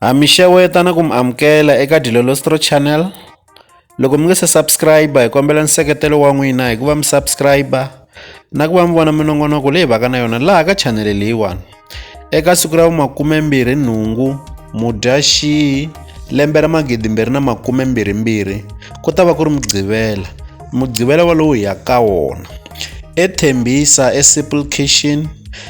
Ha mi xeweta na ku mi amukela eka Dilolostro Channel. Loko mi nga se subscribe hi kombela nseketelo wa n'wina hi ku va mi subscribe na ku va mi vona minongonoko leyi vaka na yona laha ka chanele leyiwani. Eka siku ra makumembirhi nhungu Mudyaxihi lembe ra magidimbirhi na makumembirhimbirhi ku ta va ku ri Mugqivela. Mugqivela walowo hi ya ka wona. EThembisa eSimple Kitchen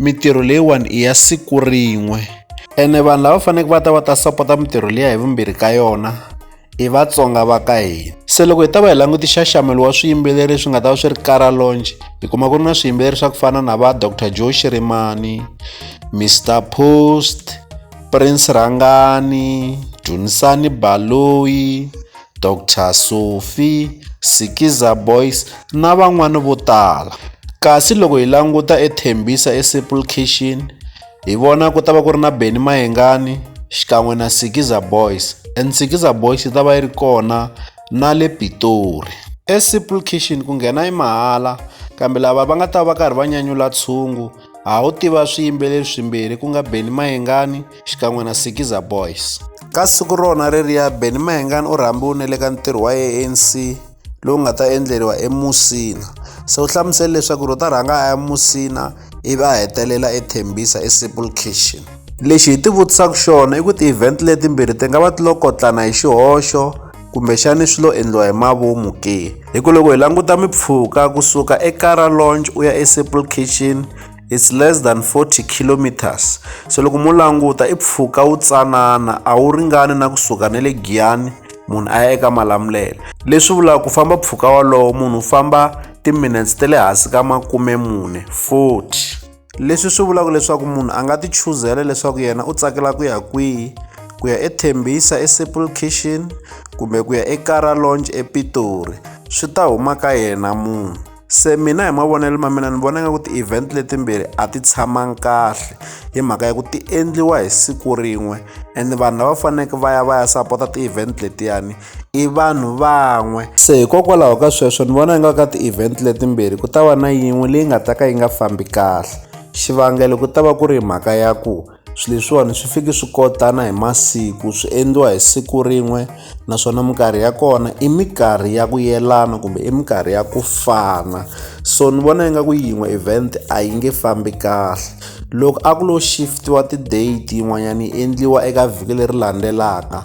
Mitirho leyiwani i ya siku rin'we ene vanhu lava faneleke va ta va ta sapota mitirho liya hi vumbirhi ka yona i vatsonga va ka hina se loko hi ta va hi langute xaxamelo wa swiyimbeleri swi nga ta va swi ri kara longe hi kuma ku ri na swiyimbeleri swa ku fana na va dr joe shirimani mr post prince rhangani dunisani baloyi Doctor Sophie, Sikiza Boys na van'wana vo tala. Kasi loko hi languta eThembisa eSimple Kitchen hi vona ku ta va ku ri na Benny Mayengani xikan'we na Sikiza Boys and Sikiza Boys yi ta va yi ri kona na le Pitori. ESimple Kitchen ku nghena i mahala kambe lava va nga ta va karhi va nyanyula tshungu ha wu tiva swiyimbeleri swimbirhi ku nga Benny Mayengani xikan'we na Sikiza Boys. Ka siku rona reriya Benny Mayengani u rhambiwile le ka ntirho wa ANC lowu nga ta endleriwa emusina se u hlamusele leswaku ro ta rhanga a ya musina ivi a hetelela ethembisa esimple kitchen lexi hi ti vutisaka xona i ku ti-event letimbirhi ti nga va ti lo kotlana hi xihoxo kumbexani swi lo endliwa hi mavomu ke hi ku loko hi languta mipfhuka kusuka ekara launch u ya esaple kitchen it's less than 40 kilometers so loko mu languta i pfuka wu tsanana a wu ringani na kusuka ne le giyani munhu a ya eka malamulele leswi vulaka ku famba pfuka walowo munhu u famba timinutes ta le hansi ka makume mune 40 leswi swi vulaka leswaku munhu a nga ti chuzela leswaku yena u tsakela ku ya kwihi ku ya ethembisa eseple kitchen kumbe ku ya ekara launch epitori swi ta huma ka yena munhu se mina hi mavonelo ma mina ni vona nga ku ti-event letimbirhi a ti tshamangi kahle hi mhaka ya ku ti endliwa hi siku rin'we and vanhu lava faneleke va ya va ya sapota ti-event letiyani i vanhu van'we se hikokwalaho ka sweswo ni vona ingaku ka ti-event letimbirhi ku ta va na yin'we leyi nga ta ka yi nga fambi kahle xivangelo ku ta va ku ri mhaka ya ku swilo leswiwani swi fiki swi kotana hi masiku swi endliwa hi siku rin'we naswona minkarhi ya kona i minkarhi ya ku yelana kumbe i minkarhi ya ku fana so ni vona ingaku yin'we event a yi nge fambi kahle loko a ku lo shift-iwa ti-date yin'wanyana yi endliwa eka vhiki leri landzelaka